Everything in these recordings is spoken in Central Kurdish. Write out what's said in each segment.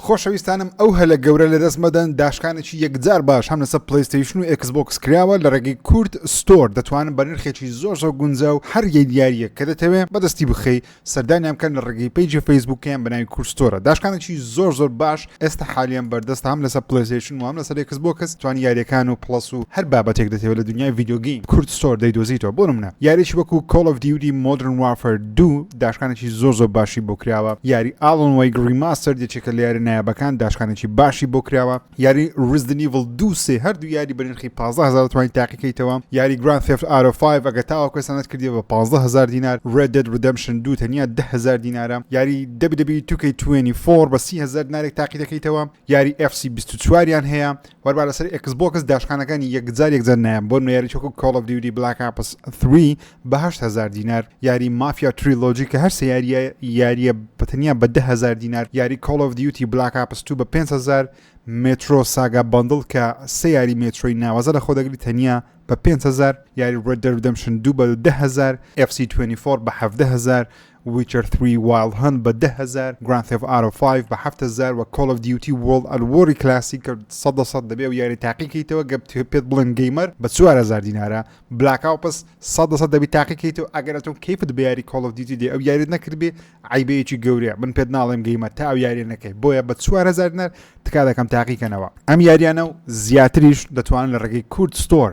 خۆشەویستانم ئەو هەلە گەورە لەدەست مەدەن داشکانێکی یەکجار باش هەم لەسەر پلەیستەیشن و ئێکس بۆکس کراوە لە ڕێگەی کورد ستۆر دەتوانن بە نرخێکی زۆر زۆر گونجا و هەر یەک یاریەک کە دەتەوێ بەدەستی بخەی سەردانیان بکەن لە ڕێگەی پەیجی فەیسبوکیان بەناوی کورد ستۆرە داشکانێکی زۆر زۆر باش ئێستا حالیان بەردەستە هەم لەسەر پلەیستەیشن و هەم لەسەر ئێکس بۆکس توانی یاریەکان و پڵەس و هەر بابەتێک دەتەوێ لە دنیای ڤیدیۆ گەیم کورد ستۆر دەیدۆزیتەوە بۆ نمونە یاریەکی وەکو کۆڵ ئۆف دیوتی مۆدرن وارفەر دوو، داشکانێکی زۆر زۆر باشی بۆ کراوە یاری ئاڵن وەیگ ڕیماستەر یەکێکە لە یارە نایابەکان داشکانێکی باشی بۆ کراوە یاری ڕزدنیڤڵ دوو سێ هەردوو یاری بەرنرخی پازهزار توانین تاقیکەیتەوە یاری گران فێفت ئارۆ 5 ئەگە تاوە کوێسانت کردی بە پازهزار دینار ڕێدێت ڕدەمشن دوو تەنیا دههزار دینارە یاری دەبی دەبی توکەی توێنی فۆڕ بە سیهزار دینارێک تاقی دەکەیتەوە یاری FC 24یان هەیە وەربا لەسەر ئێکس بۆکس داشکانەکانی یەکجار یەکجار نایەم بۆ نوێیاری چۆکو کۆڵ ئەف دیودی بلاک ئاپس 3 بە هەشت هەزار دینار یاری مافیا تریلۆجی کە هەر سێ یاریە یاریە بە تەنیا بە دە هەزار دینار یاری کۆڵ ئەف دیوتی بلاک ئاپس 2 بە 5 هەزار مترۆ ساگا بەندڵ کە سێ یاری مێترۆی ناوازە لە خۆدەگری تەنیا بە 5هزار یاری ڕێدەردەمشن دوو بە 10هزار FC24 بە 1هزار ویچەر ثری وایڵد هەنت بە دە هەزار، گراند ثێف ئارۆ فایڤ بە حەفت هەزار و کۆڵ ئۆف دیوتی وۆڵد ئەت وۆری کلاسیک سەد لە سەد دەبێ و یاری تاقی کەیتەوە گەر پێت بڵێن گەیمەر بە چوار هەزار دینارە بلاک ئاوپس سەد لە سەد دەبی تاقی کەیتەوە ئەگەر ئەتۆ کەیفت بە یاری کۆڵ ئۆف دیوتی دێ ئەو یاریت نەکردبێ عەیبەیەکی گەورەیە من پێت ناڵێم گەیمەر تا ئەو یاریە نەکەی بۆیە بە چوار هەزار دینار تکا دەکەم تاقی کەنەوە ئەم یاریانە و زیاتریش دەتوانن لە ڕێگەی کورد ستۆر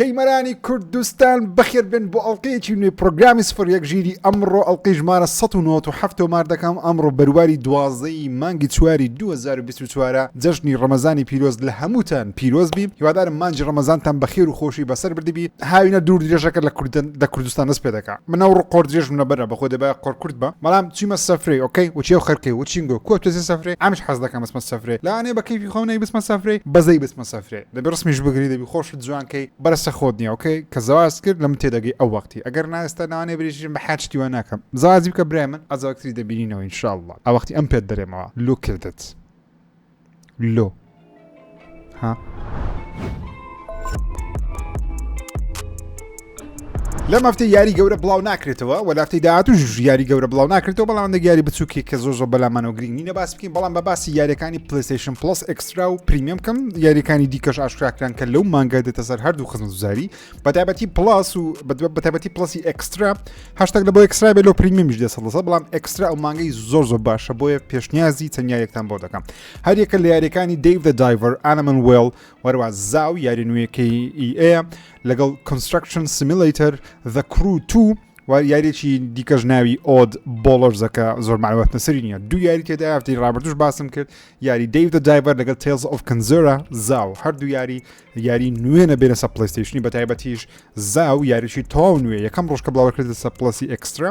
گەیمەرانی کوردستان بەخێر بێن بۆ ئەڵلقەیەکی نوێی پرۆگرامی سفر یەک ژیری ئەمڕۆ ئەڵلقەی ژمارە 1970 تۆمار دەکەم ئەمڕۆ بەرواری دوازدەی مانگی چواری 2024 جەژنی ڕەمەزانی پیرۆز لە هەمووتان پیرۆز بی هیوادارم مانجی ڕەمەزانتان بەخێر و خۆشی بەسەر بردبی هاوینە دوور درێژەکە لە کوردن لە کوردستان دەست پێ دەکا من ئەو ڕقۆر درێژم لەبەرە بەخۆ دەبای قۆر کورد بە بەڵام چیمە سەفرەی ئۆکەی وچی و خەرکەی وچینگۆ کۆ تۆزی سەفرەی ئەمش حەز دەکەم بسمە سەفرەی لەوانەیە بە کەیفی خۆم نەی بسمە سەفرەی بەزەی بسمە سەفرەی دەبی ڕسمیش بگری دەبی خۆشت جوان کەی بەرسە خۆت نیە ئۆکەی کە زەواج کرد لە من تێدەگەی ئەو وەختی ئەگەر نا ئێستا لەوانەیە بریشم بە حاج شتی وا ناکەم زەواجی بکە برای من ئەجا وەکتری دەبینینەوە ان شاء اللە ئەو وەختی ئەم پێت بەرێمەوە لۆ کردت لۆ ها لەم هەفتەی یاری گەورە بڵاو ناکرێتەوە و لافتەی داهاتوش یاری گەورە بڵاو ناکرێتەوە بەڵام هەندێک یاری بچووکی کە زۆر زۆر بەلامانەوە گرنگ نینە باس بکەین بەڵام بە باسی یاریەکانی پلیسیشن پلس ئەکسترا و پریمیەم کەم یاریەکانی دیکەش ئاشکراکران کە لەو مانگە دێتە سەر هەردوو خزم زاری بەتابەتی پلاس و بەتابەتی پلسی ئەکسترا هەشتێک لە بۆ ئەکسترا بێ لۆ پریمیمیش دێ سەڵسە بەڵام ئەکسترا ئەو مانگەی زۆر زۆر باشە بۆیە پێشنیازی تەنیایەکتان بۆ دەکەم هەریەکە لە یاریەکانی دەیڤ دایڤەر ئەنەمن وێڵ وەروە زاو یاری نوێەکەی ئەیە لەگەڵ Construction Simulator The Crew 2 و یاریێکی دیکەش ناوی ئۆد بۆڵەرزەکە زۆر معلوماتە سەری نیە دوو یاری تێدا هەفتی ڕابردوش باسم کرد یاری دەیودە دایڤەر لەگەڵ تێز ئۆف کنزۆرا زاو هەردوو یاری یاری نوێنە بێنە سە پلیستیشنی بە تایبەتیش زاو یاریی تاو نوێ یەکەم ڕۆژکە بڵاوکرێت لە سە پلسی ئەکسترا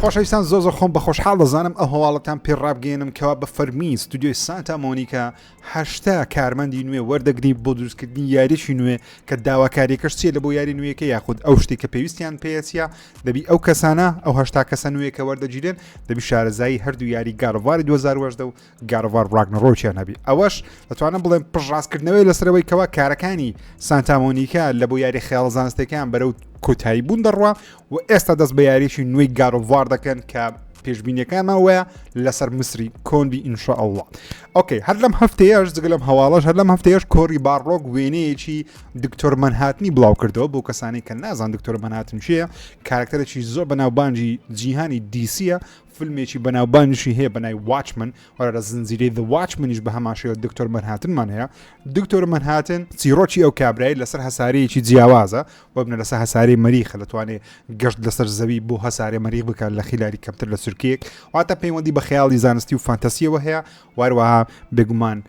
خۆشەویستان زۆ زۆ خۆم بە خۆشحاڵ دەزانم ئە هەواڵەتان پێ ڕابگەێنم کەوا بە فەرمی ستودیۆی سانتا مۆنیکا هەشتا کارمەندی نوێ وەردەگری بۆ دروستکردنی یاریی نوێ کە داواکاریەکەش چیە لە بۆ یاری نوێیەکە یاخود ئەو شتی کە پێویستیان پێەتە دەبی ئەو کەسانە ئەو هەشتا کەسە نوێیەکە وەردەگیرێن دەبی شارەزایی هەردوو یاری گارواری 2010 گاد ئۆف وار ڕاگنەڕۆکیان هەبی ئەوەش دەتوانم بڵێم پشڕاستکردنەوەی لەسەرەوەی کەوا کارەکانی سانتامۆنیکا لە بۆ یاری خێڵ زانستەکان بەرەو کۆتایی بوون دەڕوا و ئێستا دەست بە یاریی نوێی گاد ئۆف وار دەکەن کە پێشببینیەکانمان وایە لەسەر مسری کۆنبی ئینشا ئەوڵە ئۆکەی هەر لەم هەفتەیەش جگە لەم هەواڵەش هەر لەم هەفتەیەش کۆری باڕۆک وێنەیەکی دکتۆر منهاتنی بڵاو کردەوە بۆ کەسانی کە نازان دکتۆر منهاتن چیە کارکتەرێکی زۆر بەناوبانجی جیهانی دیسیە فیلمێکی بەناوبانگیشی هەیە بە ناوی واچمن وەرە لە زنجیرەی The Watchmenish بە هەماشەوە دکتۆر مەنهاتنمان هەیە دکتۆر مەنهاتن چیرۆکی ئەو کابرای لەسەر هەسارەیەکی جیاوازە وەبنە لەسەر هەسارەی مەریخە دەتوانێت گەشت لەسەر زەوی بۆ هەسارێ مەریخ بکات لە خیلاری کەمتر لە سرکەیەک واتە پەیوەندی بە خەیاڵی زانستی و فانتەسیەوە هەیە واروەها بێگومان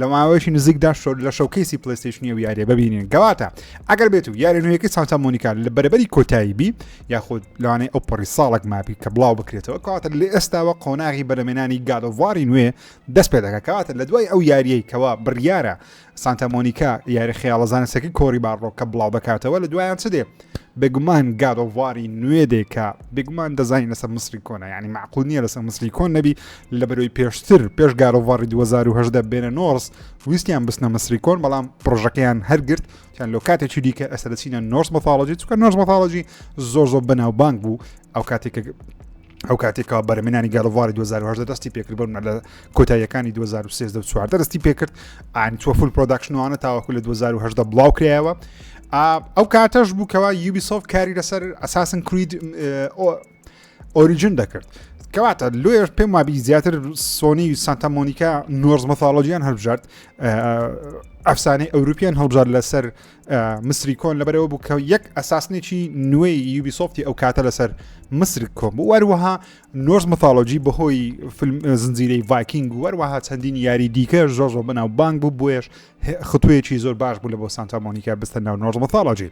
لە ماوەیەکی نزیکدا شۆر لە شەوکەیسی پلیستیشنی و یاریە ببینین گەواتە ئەگەر بێت و یاری نوێیەکەی سانتا مۆنیکا لە بەرەبەری کۆتایی بی یاخود لەوانەیە ئەو پەڕی ساڵک مابی کە بڵاو بکرێتەوە کەواتە لە ئێستاوە قۆناغی بەرەمێنانی گادۆڤاری نوێ دەست پێ دەکە کەواتە لە دوای ئەو یاریەی کەوا بڕیارە سانتا مۆنیکا یاری خەیاڵەزانستەکەی کۆری باڕۆ کە بڵاو بکاتەوە لە دوایان چ دێ بێگومان گاد ئۆف واری نوێ دێ کە بێگومان دەزانین لەسەر مسری کۆنە یعنی معقول نییە لەسەر مسری کۆن نەبی لە بەرەوەی پێشتر پێش گارۆڤاری 2010 بێنە نۆرس ویستیان بستنە مسری کۆن بەڵام پرۆژەکەیان هەرگرت یان لۆ کاتێکی دیکە ئەسەرچینە نۆرس مەفاڵۆجی چکە نۆرس مەفاڵۆجی زۆر زۆر بەناوبانگ بوو ئەو کاتێک ئەو کاتێکەوە بەرەمێنانی گەڵڤاری 2010 دەستی پێکرد بەر لە کۆتاییەکانی 2013 چواردە دەستی پێکرد ئاین تۆ فول پرۆداکشنوانە تاوەکو لە 2010 بڵاو کرایەوە ئەو کاتەش بوو کەوا یوبی سۆف کاری لەسەر ئەساسن کرید ئۆریجن دەکرد کەواتە لۆیش پێم وابی زیاتر سۆنی و سانتا مۆنیکا نۆرز مەثالۆژیان هەبژارد ئەفسانەی ئەوروپیان هەڵبژار لەسەر مسری کۆن لەبەرەوە بوو کە یەک ئەساسنێکی نوێی یوبی سۆفتی ئەو کاتە لەسەر مسر کۆم بوو وەروەها نۆرس متالۆجی بەهۆی زنجیرەی ڤایکینگ وەروەها چەندین یاری دیکە زۆر زۆر بەناو بانگ بوو بۆیش خطوەیەکی زۆر باش بوو لە بۆ سانتا مۆنیکا بستە ناو نۆرس متالۆجی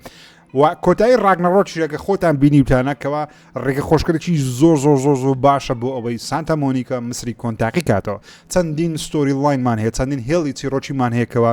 و کۆتایی ڕاگنەڕۆچیەکە خۆتان بینیوتانەکەەوە ڕێگە خۆشکردێکی زۆر زۆر زۆر زۆر باشە بۆ ئەوەی سانتا مۆنیکا مسری کۆنتاقی کاتەوە چەندین ستۆری لاینمان هەیە چەندین هێڵی چیرۆکیمان هەیەکەوە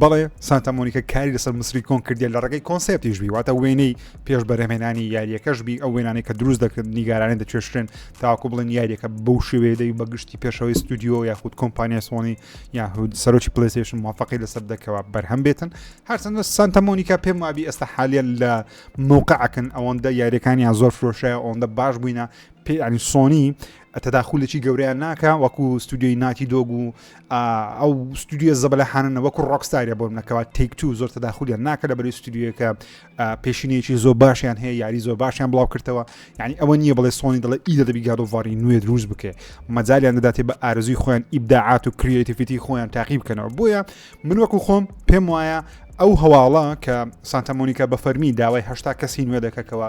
بەڵێ سانتا مۆنیکە کاری لەسەر مسری کۆن کردیە لە ڕێگەی کۆنسپتیش بی واتە وێنەی پێش بەرەمێنانی یاریەکەش بی ئەو وێنانی کە دروست دەکرد نیگارانی دەچێشتێن تاکو بڵێن یاریەکە بەو شێوێدەی بەگشتی پێشەوەی ستودیو یاخود کۆمپانیا سۆنی یاخود سەرۆکی پلیسیشن موفقی لەسەر دەکەوە بەرهەم بێتن هەرچەندە سانتا مۆنیکا پێم وابی ئێستا حالیە لە مووقعکن ئەوەندە یاریەکانیان زۆر فرۆشای ئەوەندە باش بووینە پێ ینی سۆنی تەداخولێکی گەورەیان ناکا وەکو ستودیۆی ناتی دۆگ و ئەو ستودیۆ زەبلە حانە وەکو ڕۆکستارە بۆم نەکەوە تێک تو زۆر تەداخولیان ناکە لە بەری ستودیوەکە پێشینەیەکی زۆر باشیان هەیە یاری زۆر باشیان بڵاو کردەوە ینی ئەوە نییە بڵێ سۆنی دڵە ئی دەبی گادۆڤاری نوێ دروست بکە مەجالیان دەداتێ بە ئارزوی خۆیان ئیبداعات و کریتیفیتی خۆیان تاقی بکەنەوە بۆیە من وەکو خۆم پێم وایە ئەو هەواڵە کە سانتەمۆنیکە بە فەرمی داوای هەشتا کەسی نوێ دەکەکەوە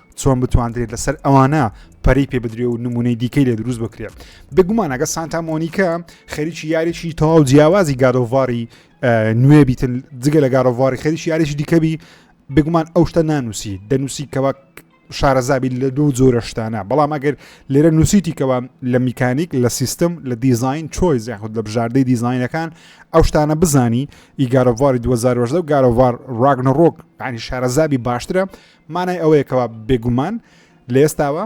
چۆن بتواندرێت لەسەر ئەوانە پەری پێ بدرێ و نمونەی دیکەی لێ دروست بکرێت بگومانەگە سانتا مۆنیکە خەریکی یاریی تەواو جیاوازی گادۆڤاری نوێ بیتن جگە لە گارۆڤاری خەریکی یاریی دیکەبی بگومان ئەو شتە نانووسی دەنووسی کەوا شارەزابی لە دوو جۆرە شتانە بەڵام ئەگەر لێرە نووسیتی کەوا لە میکانیک لە سیستم لە دیزین چۆی زیاخود لە بژاردەی دیزینەکان ئەو شتانە بزانی ئیگارۆڤاری 2010 و گارۆڤار ڕاگنە ڕۆک ینی شارەزابی باشترە مانای ئەوەیە کەوا بێگومان لە ئێستاوە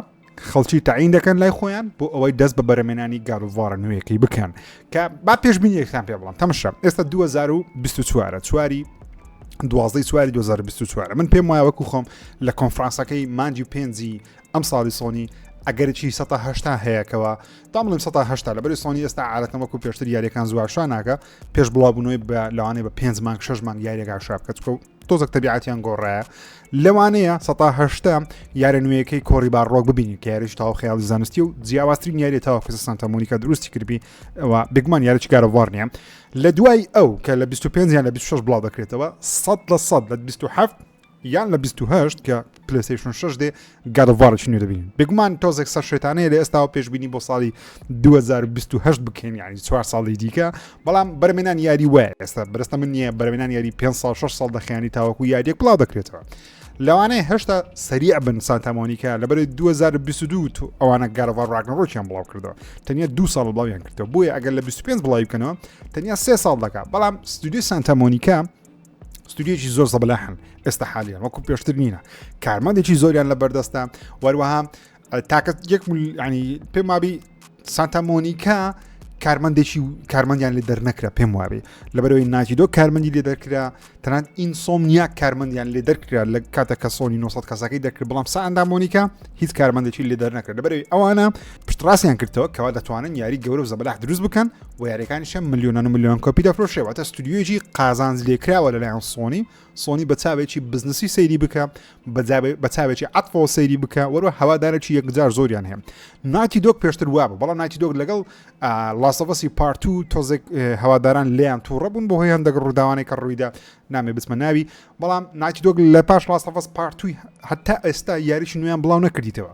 خەڵکی تاعین دەکەن لای خۆیان بۆ ئەوەی دەست بە بەرەمێنانی گاروڤارە نوێیەکەی بکەن کە با پێشببینی یەکتان پێ بڵم تەمشە ئێستا 2024 چواری دوازدەی چواری 2024 من پێم وایە وەکو خۆم لە کۆنفرانسەکەی مانجی پێنجی ئەم ساڵی سۆنی ئەگەرچی 1970 هەیەکەوە دامڵم 1970 لە بەری سۆنی ئێستا عادەتەن وەکو پێشتر یاریەکان زواشانناکە پێش بڵاوبوونەوەی بە لەوانێ بە پێنج مانگ شش مانگ یاریەکە شابکەچکە و تۆزەک تەبیعاتیان گۆڕایە لەوانەیە سەتا هەشتا یارە نوێیەکەی کۆری باڕۆک ببینین کە یاریش تاو خیاڵی زانستی و جیاوازترین یاری تاوە کە سانتا مۆنیکا دروستی کردبی ئەوە بگمان یارەی گارەوار نیە لە دوای ئەو کە لە 25 یان لە 26 بڵاو دەکرێتەوە 100 لە 100 لە 27 یان لە 28 کە پلەسیشن شش دێ گادڤارش نوێ دەبین بێگومان تۆزێک سەر شێتانەیە لە ئێستاوە پێشببینی بۆ ساڵی 2020 بکەین یعنی چوار ساڵی دیکە بەڵام بەرمێنان یاری وایە ئێستا بەرستە من نییە بەرمێنان یاری 5 سال 6 سال دەخیانی تاوەکو یاریێک بڵاو دەکرێتەوە لەوانەیە هێشتا سەریع بن سانتامۆنیکە لەبەر 2022 ئەوانە گەرەوە ڕاگنڕۆکیان بڵاو کردەوە تەنیا دو ساڵ بڵاویان کردەوە بۆیە ئەگەر لە 25 بڵاوی بکەنەوە تەنیا سێ ساڵ دەکات بەڵام ستودی سانتامۆنیکە ستودیویی زۆر زەبلاحن ئێستا حالیان وەکو پێشتر نینە کارمەندێکی زۆریان لە بەردەستە وەروەها تاکە یەک ینی پێم وابی سانتا مۆنیکا کارمەندێکی و کارمەندیان لێ دەرنەکرا پێم وابێ لەبەرەوەی ناجیدۆ کارمەندی لێ دەرکرا تەنان ئینسۆم نیا کارمەندیان لێ دەرکرا لە کاتە کە سۆنی 900 کەسەکەی دەکرد بڵام ساندا مۆنیکا هیچ کارمەندێکی لێ دەرنەکرد لەبەرەوەی ئەوانە پشتڕاستیان کردەوە کەوا دەتوانن یاری گەورە و زەبلاح دروست بکەن بۆ یاریەکانی شەم ملیۆنان و ملیۆن کۆپی دەفرۆشێ واتە ستودیوێکی قازانج لێکراوە لەلایەن سۆنی سۆنی بە چاوێکی بزنسی سەیری بکە بە چاوێکی عفۆ سەیری بکە وەرو هەوادارێکی یەکجار زۆریان هەیە ناتی دۆک پێشتر وابە بەڵام ناتی دۆک لەگەڵ لاسەفەسی پارت و تۆزێک هەواداران لیان تووڕە بوون بۆ هۆی هەندەگە ڕووداوانێک کە ڕوویدا نامێ بچمە ناوی بەڵام ناتی دۆک لە پاش لاسەفەس پارتوی هەتا ئێستا یاریی نوێیان بڵاو نەکردیتەوە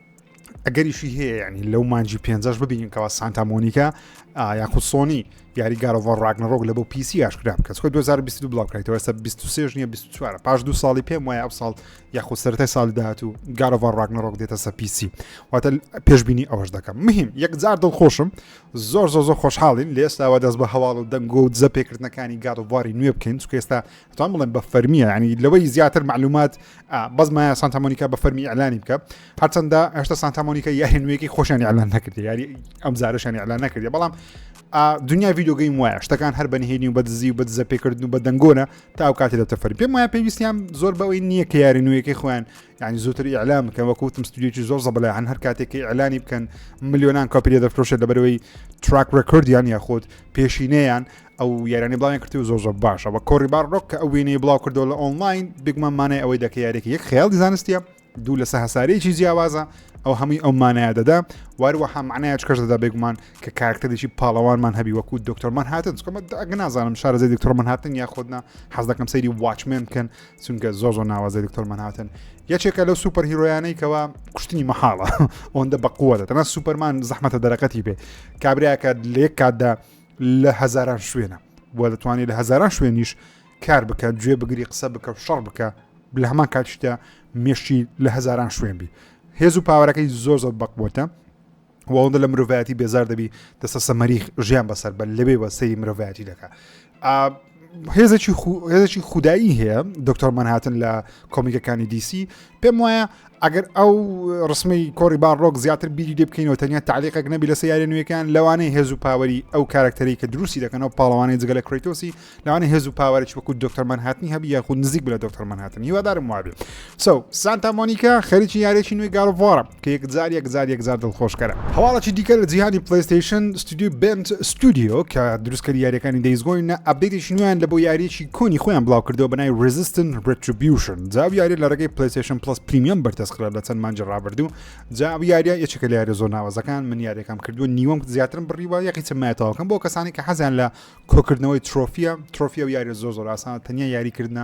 ئەگەریشی هەیە ینی لەو مانجی پێنجش ببینین کەوا سانتا مۆنیکا یاخود سۆنی یاری گارۆڤۆر ڕاگنەڕۆک لە بۆ پیسی یاشکرا بکەس خۆ 2022 بڵاوکرێتەوە ئێستا 23 نیە 24 پاش دو ساڵی پێم وایە ئەو ساڵ یاخود سەرای ساڵی داات و گارۆڤۆر ڕاگنەڕۆک دێتە سە پیسی واتە پێشببینی ئەوەش دەکەم مهم یەکجار دڵخۆشم زۆر زۆ زۆر خۆشحاڵین لە ئێستاوە دەست بە هەواڵ و دەنگۆ و دزە پێکردنەکانی گارۆڤاری نوێ بکەین چکە ئێستا چۆن بڵێم بە فەرمیە ینی لەوەی زیاتر معلومات بەس مایە سانتامۆنیکا بە فەرمی ئەلانی بکە هەرچەندە هێشتا سانتامۆنیکە یاری نوێکی خۆشیان ئەلان نەکردی یاری ئەم زارشانی ئەلان نەکردی بەڵام دنیا یددیوگەی وایە شتەکان هەر بەنهێنی و بە دزی و بە دزە پێکردن و بە دەنگۆنە تا ئەو کاتی دەتە فەرمی پێم وایە پێویستیان زۆر بەوەی نییە کە یاری نوێیەکەی خۆیان ینی زووتر ئیعلام بکەن وەکوتم ستودیوی زۆر زەبلە هەن هەر کاتێکی ئەلانی بکەن ملیۆنان کاپیرە دەفرۆشێت لەبەرەوەی تراک ڕێکردیان یاخود پێشینەیان ئەو یارانی بڵاویان کردی و زۆر زۆر باشە بە کۆری باڕۆک کە ئەو وێنەی بڵاو کردو لە ئۆنلاین بگمە مانای ئەوەی دەکە یارێکی یەک خیاڵی زانستیە دوو لەسە هەسارەیەکی جیاوازە ئەو هەمووی ئەو مانایە دەدا واروەها معنایەت کەش دەدا بێگومان کە کارکتەرێکی پاڵەوانمان هەبی وەکو دکتۆرمان هاتن چکەمە ئەگە نازانم شارزە دکتۆرمان هاتن یا خۆدنا حەز دەکەم سەیری واچمێن کەن چونکە زۆ زۆ ناوازە دکتۆرمان هاتن یەکێکە لەو سوپەر هیرۆیانەی کەەوە کوشتنی مەحاڵە ئەوەندە بەقووەتە تەنا سوپەرمان زەحمەتە دەرەکەتی بێ کابراکە لێک کاتدا لە هەزاران شوێنە بۆ دەتوانێت لە هەزاران شوێنیش کار بکە گوێ بگری قسە بکە و شەڕ بکە لە هەمان کاتشتە مێشتی لە هەزاران شوێن بی هێز و پاوەەکەی زۆر زۆر بەقبووتە وەڵدە لە مرۆڤایەتی بێزار دەبی دەسە سەمەریخ ژیان بەسەر بە لەبێ بە سەری مرۆڤایەتی دەکە هێزێکی خو- هێزێکی خودایی هەیە دکتۆر مەنهاتن لە کۆمیکەکانی دیسی پێم وایە ئەگەر ئەو ڕسمی کۆری باڕۆک زیاتر بیری لێ بکەینەوە تەنیا تعلیقێک نەبی لە سیارە نوێەکان لەوانەیە هێز و پاوەری ئەو کارکتەری کە دروستی دەکەنەوە پاڵەوانی جگە لە کریتۆسی لەوانە هێز و پاوەرێکی وەکو دکتۆر مەنهاتنی هەبی یاخود نزیک بە دکتۆر مەنهاتن هیوادارم وابێ سەو، سانتا مۆنیکا خەریکی یاریەکی نوێی گاد ئۆف وارە کە یەکجار یەکجار یەکجار دڵخۆشکەرە. هەواڵێکی دیکە لە جیهانی پلەیستەیشن، ستۆدیۆی بێنت ستۆدیۆ کە دروستکەری یاریەکانی دەیز گۆینە ئەپدەیتێکی نوێیان لە بۆ یاریەکی کۆنی خۆیان بڵاوکردەوە بەناوی ریزیستن ریتریبیوشن جا ئەو یاریە لە رێگەی پلەیستەیشن پڵەس پریمیەم بەردەستکرا لە چەند مانگی رابردوو جا ئەو یاریە یەکێکە لە یاریە زۆر ناوازەکان من یاریەکەم کردووە نیوەم زیاترم بڕیوە یەقیچە مایە تەواوکەم بۆ کەسانی کە حەزیان لە کۆکردنەوەی ترۆفیە ترۆفیە و یاریە زۆر زۆر ئاسانە تەنیا یاریکردنە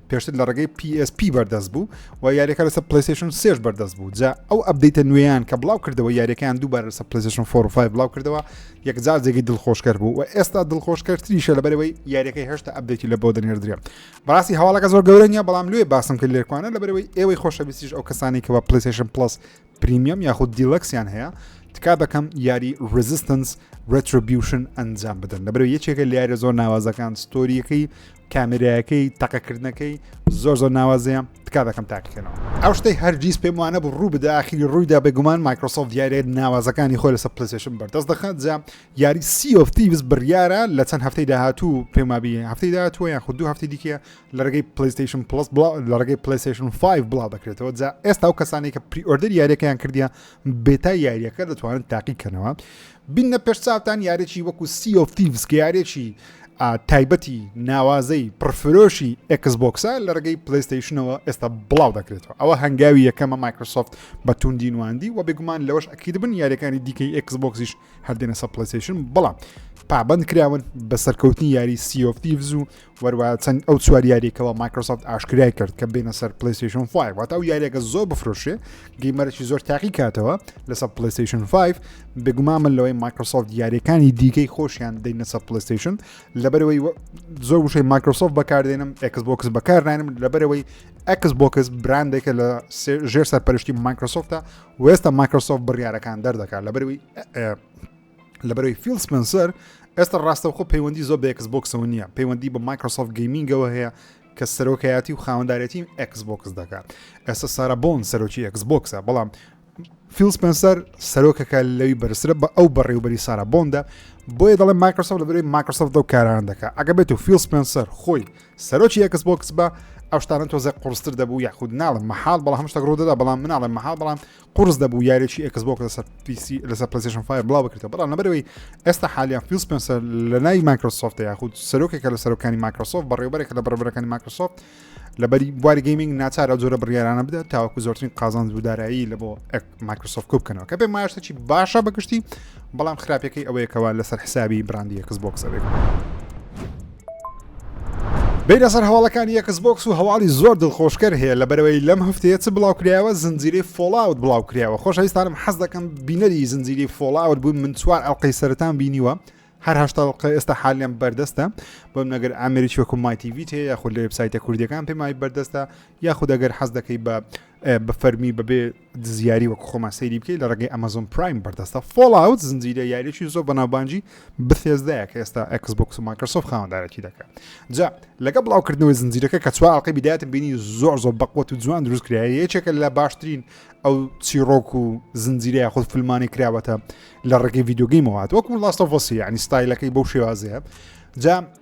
پێشتر لە ڕێگەی PSP بەردەست بوو و یاریەکە لەسەر پلیسشن سێش بەردەست بوو جا ئەو ئەبدەیتە نوێیان کە بڵاو کردەوە یاریەکەیان دووبارە لەسەر پلیسشن 45 بڵاو کردەوە یەکجار جێگەی دڵخۆشکەر بوو و ئێستا دڵخۆشکەرتریشە لە بەرەوەی یاریەکەی هێشتا ئەبدەیتی لە بۆ دەنێردرێ بەڕاستی هەواڵەکە زۆر گەورە نیە بەڵام لێ باسم کرد لێکوانە لە بەرەوەی ئێوەی خۆشەویستیش ئەو کەسانی کەەوە پلیسشن پلس پریمیەم یاخود دیلەکسیان هەیە تکا دەکەم یاری ڕزیستنس ڕێتربیوشن ئەنجام بدەن لەبەرو یەکێکە لارە زۆر ناوازەکان ستۆریەکەی کامێراەکەی تەقەکردنەکەی زۆر زۆر ناوازەیە تکا دەکەم تاقیکەنەوە ئەو شتەی هەرگیز پێم وانە بە ڕوو بدە ئاخیری ڕوویدا بێگومان مایکرۆسۆف دیارێت ناوازەکانی خۆی لەسەر پلسێشن بەردەست دەخات جا یاری سیۆفتی بس بڕیارە لە چەند هەفتەی داهاتوو پێمابی هەفتەی داهاتووە یان خوددو هەفتی دیکە لە ڕێگەی پلیستیشن پلس لە ڕێگەی پلیستیشن 5 بڵاو دەکرێتەوە جا ئێستا و کەسانی کە پریۆردر یاریەکەیان کردیان بێتا یاریەکە دەتوانن تاقیکەنەوە بینە پێش چاوتان یارێکی وەکو سیۆفیڤس کە یارێکی تایبەتی ناوازەی پرفرۆشی ئەکسبکسە لە ڕگەی پلیستیشنەوە ئێستا بڵاو دەکرێتەوە ئەوە هەنگاوی یەکەمە مایکرۆسۆفت بە توندی نواندی و بێگومان لەوەش ئەکید بن یاریەکانی دیکەی ئەکسبکسیش هەردێنە سە پلیستیشن بەڵام پابند کراون بە سەرکەوتنی یاری سیۆفیڤز و وەروە چەند ئەو چوار یاریەکەەوە مایکرۆسافت ئاشکرای کرد کە بینە سەر پلیسیشن 5 واتە ئەو یاریەکە زۆر بفرۆشێ گەیمەرەی زۆر تاقی کاتەوە لەسەر پلیسیشن 5 بگوما من لەوەی مایکرۆسۆفت یاریەکانی دیکەی خۆشیان دەینە سەر پلیسیشن لەبەرەوەی زۆر وشەی مایکرۆسۆفت بەکاردێنم ئەکس بۆکس بەکارنانم لەبەرەوەی ئەکس بۆکس براندێکە لە ژێر سەرپەرشتی مایکرۆسۆفتە وێستا مایکرۆسۆفت بڕیارەکان دەردەکات لەبەرەوەی لەبەرەوەی فیل سپنسەر ئێستا ڕاستەوخۆ پەیوەندی زۆر بە ئەکس بۆکسەوە نییە پەیوەندی بە مایکرۆسۆفت گەیمینگەوە هەیە کە سەرۆکایەتی و خاوەندارەتی ئەکس بۆکس دەکات ئێستا سارا بۆن سەرۆکی ئەکس بۆکسە بەڵام فیل سپنسەر سەرۆکەکە لەوی بەرسرە بە ئەو بەڕێوبەری سارا بۆندە بۆیە دەڵێ مایکرۆسۆف لە بەرەوەی مایکرۆسۆف دەو کاران دەکات ئەگە بێت و فیل سپنسەر خۆی سەرۆکی ئەکس بۆکس بە ئەوشتانە تۆزە قڕستر دەبوو یاخود ناڵم مەحال بەڵام هەمشتە ڕوودەدا بەڵام مناڵێ مەحال بەڵام قورس دەبوو یاریی ئێکسبۆکس لەسەر پیسی لەسەر پلسیشن فای بڵاو بکرێتەوە بەڵام لەبەرەوەی ئێستا حالیان فیل سپنسەر لە نای مایکرۆسۆفت یاخود سەرۆکێکە لە سەرۆکانی مایکرۆسۆفت بەڕێوبەرێکە لە بەڕێبەرەکانی مایکرۆسۆفت لەبەری بواری گەیمنگ ناچار ئەو جۆرە بڕیارانە بدات تاوەکو زۆرترین قازانج و دارایی لە بۆ مایکرۆسۆفت کو بکەنەوە کە پێ ماشتەی باشە بەگشتی بەڵام خراپەکەی ئەوەیەکەوە لەسەر حسابی براندی ئێکسبۆکس ئەوێت. بیرە سەر هەواڵەکانی یەکس بۆکس و هەواڵی زۆر دڵخۆشکەر هەیە لە بەرەوەی لەم هەفتەیە چ بڵاوکرایەوە زنجیری فۆڵاوت بڵاوکرایەوە خۆشەویستانم حەز دەکەم بینەری زنجیری فۆڵاوت بووم من چوار ئەڵلقەی سەرتان بینیوە هەر هەشتاڵقە ئێستا حالیان بەردەستە بۆم نەگەر ئامریکی وەکو مایتیVیت هەیە یاخود لە وبسایتە کوردیەکان پێمای بەردەستە یاخود ئەگەر حەز دەکەی بە بە فەرمی بەبێ دزیاری وەک خۆمان سەیری بکەیت لە ڕێگەی ئەمەزۆن پرایم بەردەستە فۆڵاوت زنجیرە یاریەکی زۆر بەناوبانجی بثێزدایە کە ئێستا ئەکسبکس و ماکرسۆف خاوەندارەتی دەکات جا لەگە بڵاوکردنەوەی زنجیرەکە کە چوار ئەڵلقەی بدایەتە بینی زۆر زۆر بەقوت و جوان دروست کرایە یەکێکە لە باشترین ئەو چیڕۆک و زنجیرەیە خود فلمانی کراوەتە لە ڕێگەی یددیوگەیمەوەات وەکو لاستۆڤۆسی ینی ستایلەکەی بەو شێوازەیە جا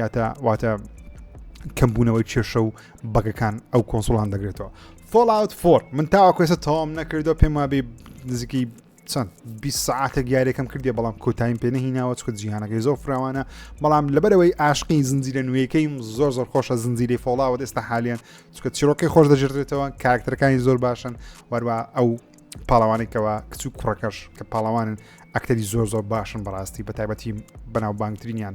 یاتە واتە کەمبوونەوەی کێشە و بەگەکان ئەو کۆنسڵان دەگرێتەوە فۆلاوت فۆر من تاواکوێسە تەوام نەکردو پێم وابێ نزیکی چەند 20 ساعتە گیارێکم کردی بەڵام کۆتایم پێ نهیناوە چکە جیهانەکەی زۆر فراوانە بەڵام لەبەرەوەی ئاشقی زنجیرە نوێیەکەیم زۆر زۆر خۆشە زنجیری فۆڵاوە ئێستا حالیان چکە چیرۆکی خۆش دەژێتێتەوە کارکتەرەکانی زۆر باشن وەروە ئەو پاڵەوانێکەوە کچ و کوڕەکەش کە پاڵەوانن ئەکتەری زۆر زۆر باشن بەڕاستی بە تایبەتی بەناوبانگترینیان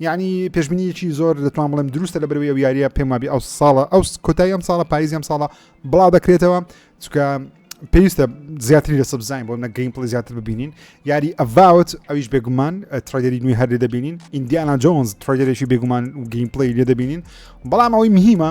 یانی پێشبینیەکی زۆر دەتوان بڵێم دروستە لە بەروی ئەو یاریە پێم وابی ئەو ساڵە ئەو کۆتای ئەم ساڵە پاییز ئەم ساڵە بڵاو دەکرێتەوە چکە پێویستە زیاتری لە سبزین بۆ نەگەین پڵی زیاتر ببینین یاری ئەڤاوت ئەویش بێگومان ترایدەری نوێ هەر لێ دەبینین ئیندیانا جۆنز ترایدەرێکی بێگومان گەین پڵی لێ دەبینین بەڵام ئەوەی مهمە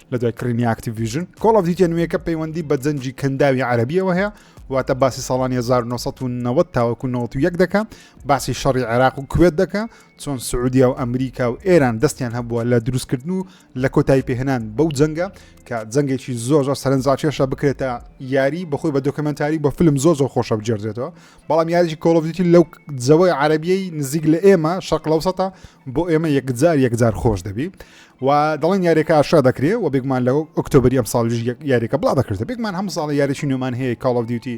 لە دوای کڕینی ئاکتیڤیژن کۆڵ ئەف دیوتیە نوێیەکە پەیوەندی بە جەنجی کەنداوی عەربیەوە هەیە واتە باسی ساڵانی 1990 تاوەکو 91 دەکە باسی شەڕی عێراق و کوێت دەکە چۆن سعودیا و ئەمریکا و ئێران دەستیان هەبووە لە دروستکردن و لە کۆتایی پێهێنان بەو جەنگە کە جەنگێکی زۆر زۆر سەرنجڕاکێشە بکرێتە یاری بەخۆی بە دۆکمنتاری بە فلم زۆر زۆر خۆشە بجێردێتەوە بەڵام یاریی کۆڵڤیتی لەو جەوەی عربیەی نزیک لە ئێمە شەقلەوسەتە بۆ ئێمە یەکجار یەکجار خۆش دەبی و دەڵێن یاریەکە ئاشا دەکرێ و بێگومان لە ئۆکتۆبری ئەم ساڵژ یاریەکە بڵا دەکردە بێگومان هەم ساڵە یاریی نوێمان هەیە کاڵ دیوتی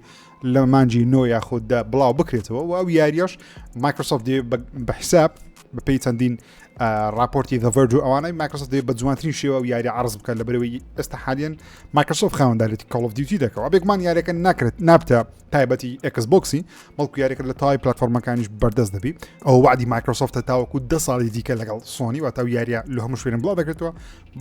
لە مانجی نۆ یاخوددا بڵاو بکرێتەوە و ئەو یاریش مایکرۆسۆفت بە حساب بە پێی چەندین راپۆرتی دەڤەرج و ئەوانەی مایکرۆسۆفت بە جوانترین شێوە و یاری عرض بکەن لە بەرەوەی ئێستا حالیان مایکرۆسۆف خاوەنددارێتی کاڵ دیوتی دەکەەوە بێگومان یاریەکە ناکرێت نابتە تایبەتی ئەکس بۆکسی بەڵکو یاریکرد لە تای پلتفۆرمەکانیش بەردەست دەبی ئەو وعدی مایکرۆسۆفتە تاوەکو ده ساڵی دیکە لەگەڵ سۆنی واتە یاریە لە هەموو شوێن بڵاو دەکردەوە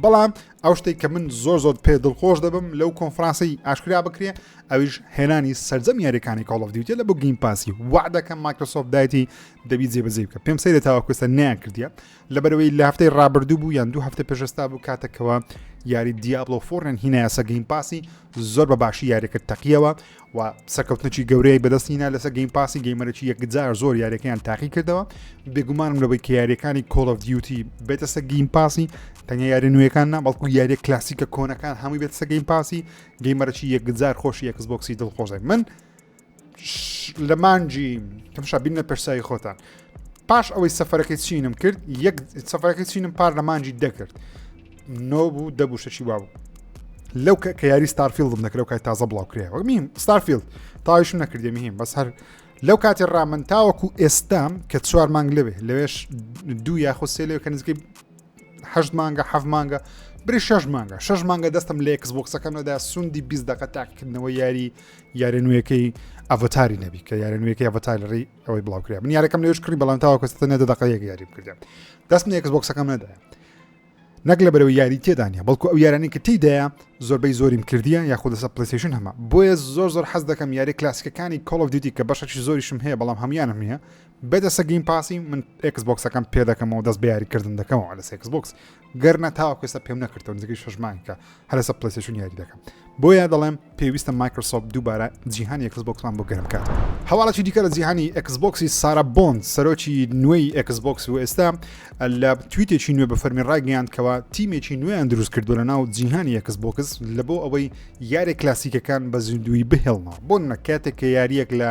بەڵام ئەو شتێک کە من زۆر زۆر پێ دڵخۆش دەبم لەو کۆنفرانسی ئاشکرا بکرێ ئەویش هێنانی سرجەم یاریەکانی کاڵ دیوتە لە بۆ گیم پاسی وعدەکە مایکرۆسۆفت دایتی دەبی جێبەجێ بکە پێم سەیرە تاوەکوستە نیان کردیە لەبەرەوەی لە هەفتەی ڕابردوو بوو یان دوو هەفتە پێشستا بوو کاتەکەوە یاری دیابلۆ فۆرن هینایەسە گەیم پاسی زۆر بە باشی یاریەکە تەقیەوە و سەرکەوتنەی گەورەی بەدەستینا لەسەر گەیم پاسی گەیمەرەی یەکجار زۆر یاریەکەیان تاقی کردەوە بێگومانم لەبەی کە یاریەکانی کۆڵ of دیوتی بێتە سە گەیم پاسی تەنیا یاری نوێەکان نا بەڵکو یاریە کلاسیکە کۆنەکان هەمووی بێت سە گەیم پاسی گەیمەرەی یەکجار خۆشی یەکس بۆکسی دڵخۆزای من لە مانجی تمشا بینە پرسایی خۆتان پاش ئەوەی سەفەرەکەی چینم کرد یەک سەفەرەکەی چینم پار لە مانجی دەکرد نۆ بوو دەبوو شەشی وابوو لەو کە یاری ستارفیلدم نەکرەوە کای تازە بڵاو کرێ وەمیم ستارفیلد تاویشم نەکردێ میم بەس هەر لەو کاتی ڕامن تاوەکو ئێستام کە چوار مانگ لەوێ لەوێش دوو یاخۆ سێ لەوێ کە نزیکەی هەشت مانگە حەف مانگە بری شش مانگە شش مانگە دەستم لە یکس بۆکسەکەمەدا سوندی بیست دقە تاکردنەوە یاری یارە نوێەکەی ئەڤتاری نەبی کە یارە نوێەکەی ئەڤتار لە ڕێی ئەوەی بڵاوکرا من یارەکەم لەش کڕی بەڵام تاوا کەستە نەدە دەقەیەک یاری بکردم دەست نێکس بۆکسەکەم نەدا نەک لە بەرەوە یاری تێدانە بەڵکو ئەو یارانی کە تیدایە زۆربەی زۆریم کردیە یاخود لەسە پلیسیشن هەمە بۆیە زۆر زۆر حەز دەکەم یاری کلاسیکەکانی کۆڵ دیتی کە بەشەی زۆریشم هەیە بەڵام هەمویانم نیە بێدەسە گەیم پاسی من ئێکس بۆکسەکەم پێ دەکەمەوە دەست بەیاری کردن دەکەمەوە لە سێکس بۆکس گەرنە تاوەکوێستا پێم نەکردەوە نزیکەی شەژمانکە هەرسە پلسیشون یاری دەکەم بۆیە دەڵێم پێویستە مایکرسۆپ دووبارە جیهان ئێکس بۆکسمان بۆ گەرم کات هەواڵەتی دیکە لە جیهانی ئەکس بۆکسی سارا بۆند سەرۆکی نوێی ئەکس بۆکس و ئێستا لە تویتێکی نوێ بە فەرمی ڕاگەیاندکەوە تیمێکی نوێیان دروست کردو لە ناو جیهانی ئەکس بۆکس لە بۆ ئەوەی یارێک کلاسیکەکان بە زیندوی بهێڵنەوە بۆ نە کاتێک کە یاریەک لە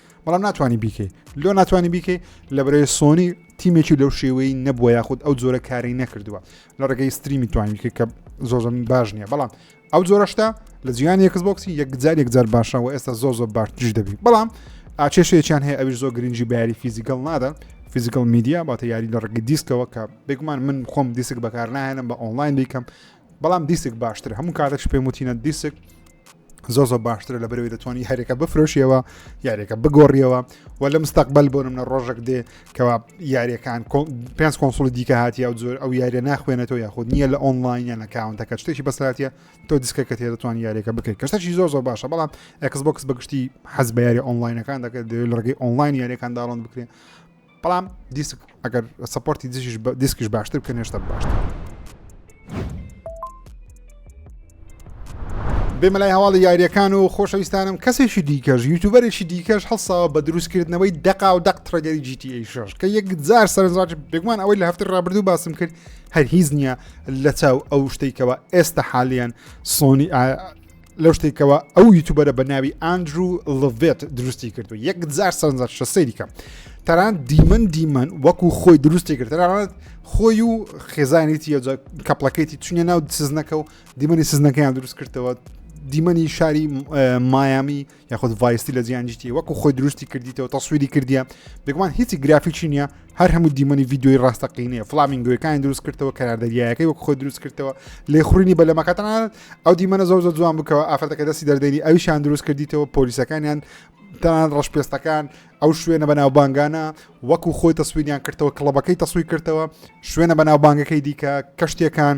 بەڵام ناتوانانی بیکەی لۆ ناتوانانی بیکەی لە بەرەی سۆنی تیمێکی لەو شێوەی نەبووە یاخود ئەو جۆرە کاری نەکردووە لە ڕێگەی ستریمی توانانی کە زۆزم باش نییە بەڵام ئەو جۆرەشتا لە جیان یەکس بۆکسی یەکجار یەکجار باشە و ئێستا زۆ زۆ باشتیش دەبی بەڵام ئاچێشێکیان هەیە ئەوی زۆ گرنگجی باری فیزیکەڵ نادا فیزیکل میدیا باتە یاری لە ڕگە دیسکەوە کە بێگومان من خۆم دیسک بەکار نایەنم بە ئۆنلاین بیکەم بەڵام دیسک باشتر هەموو کاتێکش پێم وتینە دیسک زۆ زۆ باشترە لە بەرەوەی دەتوانانی هەرێکە بفرۆشیەوە یاریەکە بگۆڕیەوە و لە مستەقبل بۆ منە ڕۆژێک دێ کەوا یاریەکان پێنج کۆنسڵی دیکە هاتی ئەو زۆر ئەو یاریە ناخوێنێتەوە یاخود نییە لە ئۆنلاینە لە کاونتەکە شتێکی بەساتە تۆ دیسکەکە تێ دەتوان یاریەکە بکەیت کەشتەشی زۆر زۆر باشە بەڵام ئەکس بۆکس بەگشتی حەز بە یاری ئۆنلاینەکان دەکرێت دەوێت لە ڕگەی ئۆنلاین یاریەکان داڵند بکرێت بەڵام دیسک ئەگەر سپۆرتی دژیش دیسکیش باشتر بکەن هێشتا باشتر بێمە لای هەواڵی یاریەکان و خۆشەویستانم کەسێکی دیکەش یوتوبەرێکی دیکەش هەڵساوە بە دروستکردنەوەی دەقا و دەق تڕگەری GTA شش کە یەک جار سەرنجڕاج بێگومان ئەوەی لە هەفتر ڕابردوو باسم کرد هەر هیچ نییە لە چاو ئەو شتێکەوە ئێستا حالیان سۆنی لەو شتێک کەەوە ئەو یوتوبەرە بە ناوی ئاندرو لڤێت دروستی کرد و یەک جار سەرنجەر شە سەیری کەم تەران دیمەن دیمەن وەکو خۆی دروستی کرد تەرانەت خۆی و خێزانێتی یە کەپلەکەیتی چونە ناو سزنەکە و دیمەنی سزنەکەیان دروست کردەوە دیمەنی شاری مایامی یاخود ڤایستی لە جیان جیتی وەکو خۆی دروستی کردیتەوە تەسووری کردیە بێگومان هیچی گرافیکی نییە هەر هەموو دیمەنی یددیوی ڕاستەقینەیە فلامینگوەکانی دروست کردەوە کەناردەریایەکەی وەک خۆی دروست کردەوە لێ خوڕینی بە لەمەکەتان ئەو دیمەە زۆر زۆر جوان بکەوە ئافرەتەکە دەستی دەردەری ئەویشان دروست کردیتەوە پۆلیسەکانیان تان ڕەشپێستەکان ئەو شوێنە بە ناوبانگانە وەکو خۆی تەسویریان کردەوە کڵەبەکەی تەسووی کردەوە شوێنە بە ناوبانگەکەی دیکە کەشتەکان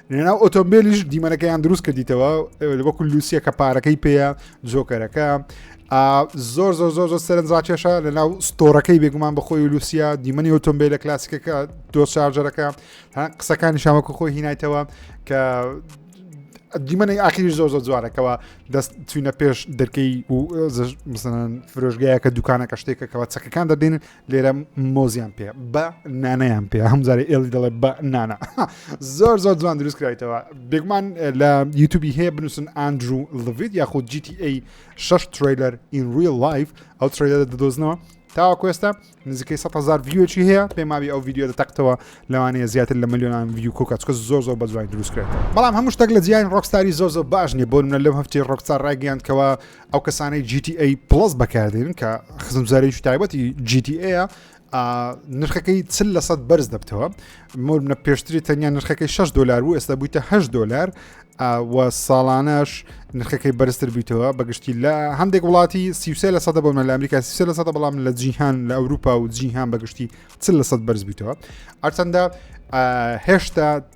لەناو ئۆتۆمبیلیش دیمەنەکەیان دروست کردیتەوە وەکو لوسیە کە پارەکەی پێەیە جۆکەرەکە زۆر زۆر زۆر زۆر سەرنجڕاکێشە لە ناو ستۆرەکەی بێگومان بەخۆی لوسیا دیمەنی ئۆتۆمبیل لە کلاسیکەکە دۆ شارجەرەکە قسەکانی شامەکە خۆی هینایتەوە کە دیمەنی ئاخیری زۆر زۆر جوارەکەەوە دەست چوینە پێش دەرکەی و فرۆژگایە کە دوکانەکە شتێکەکەەوە چەکەکان دەدەین لێرە مۆزیان پێ بە نانەیان پێ هەم جارێ ئێڵی دەڵێ بە نانا زۆر زۆر جوان دروست کرایتەوە بێگومان لە یوتوبی هەیە بنووسن ئاندرو لڤید یاخود GTA 6 تریلەر in real life ئەو تریلەر دەدۆزنەوە تاواکوێستا نزیکەی 100هزار ڤیوەکی هەیە پێماوی ئەو ڤیددیو دەتەقتەوە لەوانەیە زیاتر لە ملیۆنان ڤیو کۆکچکە زۆر زۆر بەجوانی دروستکرێت بەڵام هەموو شتێک لە جیان ڕۆکساری زۆر زۆر باش نیە بۆ منە لەم هەفتی ڕۆکسار ڕایگەیاندکەوە ئەو کەسانەی GTA پلس بەکاردێنن کە خزمزارێکی تایبەتی GTA ە نرخەکەی چل لە سەد بەرز دەبتەوە مۆرمە پێشتری تەنیا نرخەکەی 6 دلار بوو ئێستا بوویتە 8 دلار و ساڵانەش نرخەکەی بەرزتر بیتەوە بەگشتی لە هەندێک وڵاتی سیوسێ لە سەدە بۆمە لە ئەمریکا سیسە لە سەدە بەڵام لە جیهان لە ئەوروپا و جیهان بەگشتی چل لە سەد بەرز بیتەوە ئەرچەندە هێشتا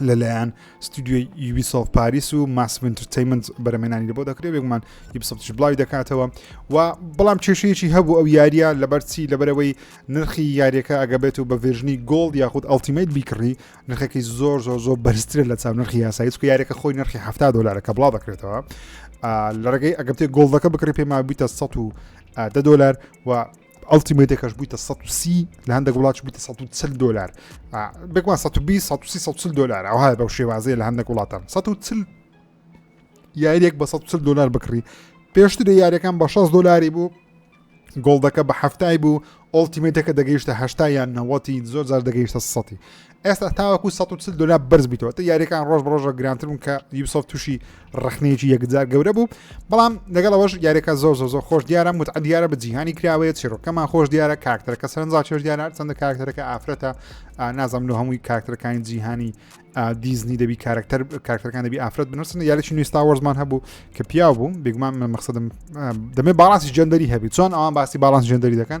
لەلایەن ستودیۆی یوبیسۆف پاریس و ماسف ئینترتەیمنت بەرەمێنانی لە بۆ دەکرێت بێگومان یبسەفتش بڵاوی دەکاتەوە و بەڵام کێشەیەکی هەبوو ئەو یاریە لەبەرچی لەبەرەوەی نرخی یاریەکە ئەگەبێت و بە ڤێژنی گۆڵ یاخود ئەڵتیمیت بیکڕی نرخەکەی زۆر زۆر زۆر بەرزترە لە چاو نرخی یاسایی چکە یاریەکە خۆی نرخی ه دلارەکە بڵاو دەکرێتەوە لە ڕێگەی ئەگەبتێ گۆڵدەکە بکڕی پێما بیتە 100 دە دلار و ئەڵتیمەیتەکەش بوویتە 130 لە هەندێک وڵات بوویتە 140 دلار بێکمان 120 دلار ئەوها بەو شێوازەیە لە هەندێک وڵاتان 140 یاریەک بە 140 دلار بکڕی پێشتر یاریەکان بە 6 دلاری بوو گۆڵدەکە بە هەفتای بوو ئۆڵتیمێتەکە دەگەیشتە هەشتا یان نەوەتی زۆر زار دەگەیشتە سەی ئێستا تاوەکو 140 دلار بەرز بیتەوە تا یاریەکان ڕۆژ بەڕۆژە گرانتر بوون کە یوسف تووشی ڕخنەیەکی یەکجار گەورە بوو بەڵام لەگەڵەوەش یاریەکە زۆر زۆر زۆر خۆش دیارە متع دیارە بە جیهانی کراوەیە چێرۆکەمان خۆش دیارە کاکتەرەکە سەرنجا چێش دیارە چەندە کاکتەرەکە ئافرەتە نازانم لە هەمووی کاکتەرەکانی جیهانی دیزنی دەبی کارکتەر کارکتەکان دەبی ئافرەت بنووسن یاریی نوێستا وەرزمان هەبوو کە پیاو بوو بگومان من مەخصدم دەمێ باڵانسی جەندەری هەبی چۆن ئەوان باسی باڵانس جەندەری دەکەن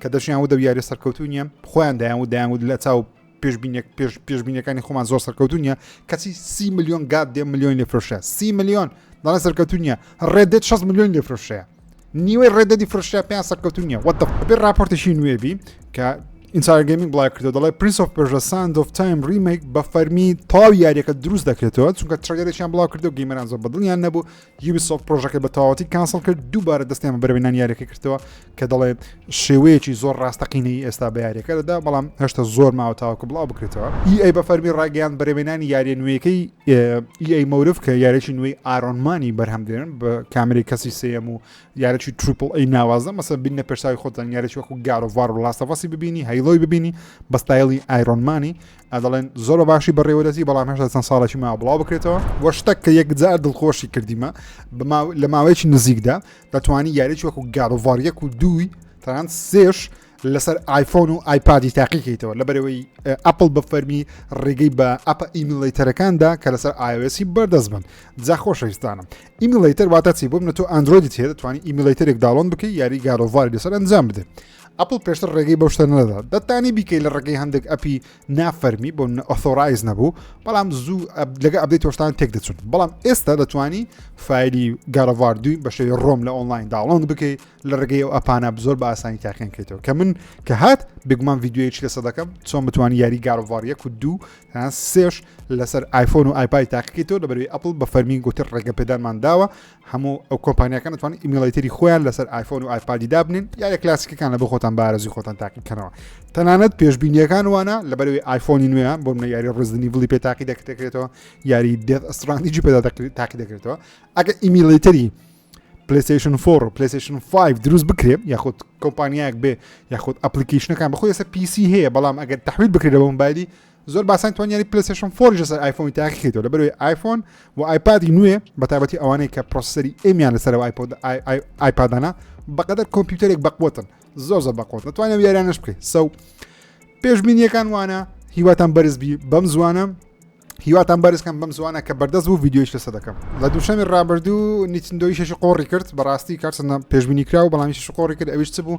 کە دەشیان ودە و یاریە سەرکەوتو نیە خۆیان دایان و دایان و لە چاو پێشبینێک پێش پێشبینەکانی خۆمان زۆر سەرکەوتو نیە کەچی سی میلیۆن گات دێ میلیۆن لە فرشە سی میلیۆن دەڵێ سەرکەوتو نیە ڕێدێت 6 میلیۆن لە فرشەیە نیوەی ڕێدەدی فرشە پێیان سەرکەوتو نیە وە دەبێ راپۆرتێکی نوێبی کە ئینساگەمین بڵای کردو دەڵێ پرینس of پێژە ساند of تایم ریمێک بە فەرمی تاو یاریەکە دروست دەکرێتەوە چونکە ترگەرێکیان بڵاو کردو گەیمەران زۆر بەدڵیان نەبوو یوبیسۆفت پرۆژەکەی بە تەواوەتی کانسڵ کرد دووبارە دەستیان بە بەرەوەی نان یاریەکە کردەوە کە دەڵێ شێوەیەکی زۆر ڕاستەقینەی ئێستا بە یاریەکە دەدا بەڵام هێشتا زۆر ماوە تاوەکە بڵاو بکرێتەوە ئی ئەی بە فەرمی ڕاگەیان بەرەوێنانی یاریە نوێیەکەی ئی ئەی مەورف کە یارێکی نوێی ئارۆنمانی بەرهەم دێن بە کامری کەسی سم و یارێکی تروپل ئەی ناوازە مەسە بینە پێشاوی خۆتان یارێکی وەکو گارۆڤار و لاستەفاسی ببینی هەیڵۆی ببینی بەستایلی ئایرۆنمانی دەڵێن زۆر بە باشی بەڕێوەدەزی بەڵام هەشتا چەند ساڵێکی ما بڵاو بکرێتەوە وە شتەک کە یەکجار دڵخۆشی کردیمە لە ماوەیەکی نزیکدا دەتوانی یاریی وەکو گاروڤاریەک و دووی تەنان سێش لەسەر آیفۆن و آیپادی تاقیکەیتەوە لە بەرەوەی ئەپل بە فەرمی ڕێگەی بە ئەپ ئیمیلیتەرەکاندا کە لەسەر ئاوێسی بەردەست بن جا خۆشەویستانم ئیمیلیتەر واتە چی بۆ منە تۆ ئەندرۆیدی تێ دەتوانانی ئیمیلیتەرێک داڵۆن بکەی یاری گارۆڤاری لەسەر ئەنجام بدەن ئەپڵ پێشتر ڕێگەی بەو شتە نەدەدا دەتانی بیکەی لە ڕێگەی هەندێک ئەپی نافەرمی بۆ ئۆثۆرایز نەبوو بەڵام زوو لەگە ئەبدەی تۆشتان تێک دەچون بەڵام ئێستا دەتوانی فایلی گارەڤار دوی بەشێ ڕۆم لە ئۆنلاین داڵۆن بکەی لە ڕێگەی ئەو ئەپانە زۆر بە ئاسانی تاقیان کردەوە کە من کە هات بگومان یددیوەیەکی لەسە دەکەم چۆن بتوانانی یاری گارڤاریە کو دوو سێش لەسەر آیفۆن و آیپای تاقیکەیتەوە لەبەروی ئەپل بە فەرمی گوتر ڕێگە پێدانمان داوە هەموو ئەو کۆمپانیەکان دەتوانن ئیمیڵیتری خۆیان لەسەر ئایفۆن و ئایپادی دابنین یا لە کلاسیکەکان لە بۆ خۆتان بارزی خۆتان تاقیکەنەوە تەنانەت پێشببینیەکان وانە لە بەرەوەی ئایفۆنی نوێ بۆ منە یاری ڕزدنی بڵی پێ تاقی دەکرێتەوە یاری دێت ئەسترانیجی پێدا تاقی دەکرێتەوە ئەگە ئیمیلیتری پلیسیشن فۆر و پلیسیشن 5 دروست بکرێت یاخود کۆمپانیایەک بێ یاخود ئەپلیکیشنەکان بەخۆی سەر پیسی هەیە بەڵام ئەگەر تحویل بکرێتەوە مبایلی زۆر باسان توانیانی پلسشن فۆریش لەسەر ئایفۆنی تاقی کردەوە لە بەروی ئایفۆن و ئایپادی نوێ بە تابەتی ئەوانەی کە پرۆسەری ئەمیان لەسەرەوە ئایپۆد ئایپادانە بەقدر کۆمپیوتەرێک بەقوتن زۆر زە بەقۆت دەتوانێت یاریانش بکەیت سەو پێشبینیەکان وانە هیواتان بەرزبی بەم زوانە هیواتان بەرزکەم بەم زوانە کە بەردەست بوو یددیوش لەسە دەکەم لە دووشەمی ڕابردوو نیچندۆی شش قۆڕی کرد بەڕاستی کارسنە پێشبینی کرا و بەڵامی شش قۆڕی کرد ئەویش چ بوو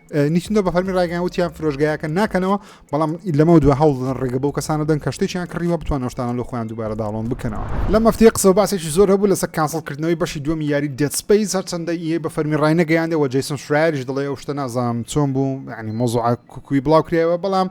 نیکندۆ بە فەرمی ڕایگەیان وتیان فرۆشگایەکە ناکەنەوە بەڵام لەمە دو هەوڵ دەدەن ڕێگە بەو کەسانە دەن کە شتێکیان کڕیوە بتوان شتانە لە خۆیان دووبارە داڵۆن بکەنەوە لەم مەفتەیە قسە و باسێکی زۆر هەبوو لەسەر کانسڵکردنەوەی بەشی دووەمی یاری دێت سپەیس هەرچەندە ئی بە فەرمی ڕای نەگەیاندێ و جەیسن شرایریش دەڵێ ئەو شتە نازانم چۆن بوو یعنی مۆزوعە کوکوی بڵاو کرایەوە بەڵام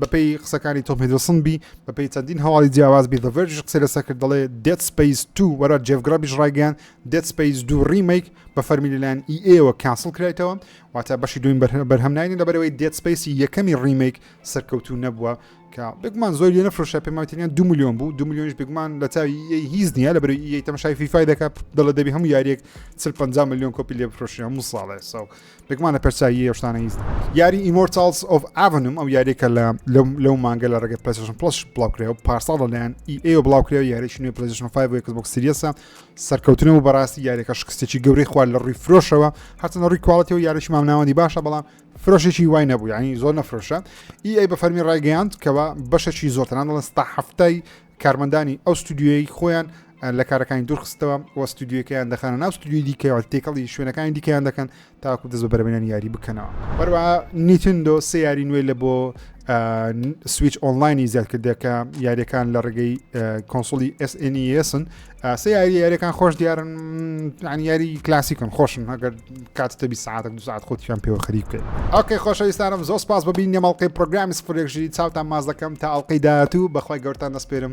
بەپێی قسەکانی تۆم هیدلسن بی بەپێی چەندین هەواڵی جیاواز بی دەڤێرژ قسە لەسەر کرد دەڵێ دێت سپەیس تو وەرە جێفگرابیش ڕایگەیان دێد سپەیس دوو ڕیمەیک بە فەرمی لەلایەن ئی ئەیەوە کانسڵ کرایتەوە واتە بەشی دوین بەرهەم ناینی لەبەرەوەی دێد سپەیسی یەکەمی ڕیمەیک سەرکەوتوو نەبووە کە بگمان زۆر لێ نەفرۆشە پێماتریان دو میلیۆن بوو دو میلیۆنش بگمان لە چاوی هیز نییە لە بەری یەی تەمەشای فیفای دەکات دڵە دەبی هەموو یاریەک چل پ میلیۆن کۆپی لێ بفرۆشی هەموو ساڵێ ساو بگمان لە پرسایی هێشتانە هیز یاری ئیمۆرتالز ئۆف ئاڤنم ئەو یاریەکە لە لەو مانگە لە ڕێگە پلسشن پلس بڵاوکرێ و پارساڵ لەلایەن ئی ئەو بڵاوکرێ یاریشنی پلسشن 5 کەس بۆک سریەسە سەرکەوتنە و بەڕاستی یاریەکە شکستێکی گەورەی خوارد لە ڕووی فرۆشەوە هەرچەند ڕووی کوالڵەتی و یاریش مامناوەندی باشە بەڵام فرۆشێکی وای نەبوو ینی زۆر نەفرۆشە ئی ئەی بە فەرمی ڕایگەیاند کەەوە بەشەکی زۆرتەنان دەڵێن ستا هەفتای کارمەندانی ئەو ستودیوی خۆیان لە کارەکانی دوورخستەوە وە ستودیوەکەیان دەخانە ناو ستودیوی دیکەوە تێکەڵی شوێنەکانی دیکەیان دەکەن تاوەکو دەست بە بەرەبەینانی یاری بکەنەوە هەروەها نیتندۆ سێ یاری نوێی لە بۆ سویچ ئۆنلاینی زیاد کردەکە یاریەکان لە ڕێگەی کۆنسۆلی SNESن سێ یاری یاریەکان خۆش دیارن یاری کلاسیکن خۆشن هەگەر کاتتە بی ساعت دو ساعت خۆتیان پێوە خەری بکەین ئۆکەی خۆشەویستانم زۆر سپاس بەبین نێمەڵقی پرۆگرامی سفرێکژی چاوتان ماز دەکەم تا ئەڵلقەی داهاتوو بەخوای گەورتان دەستپێرم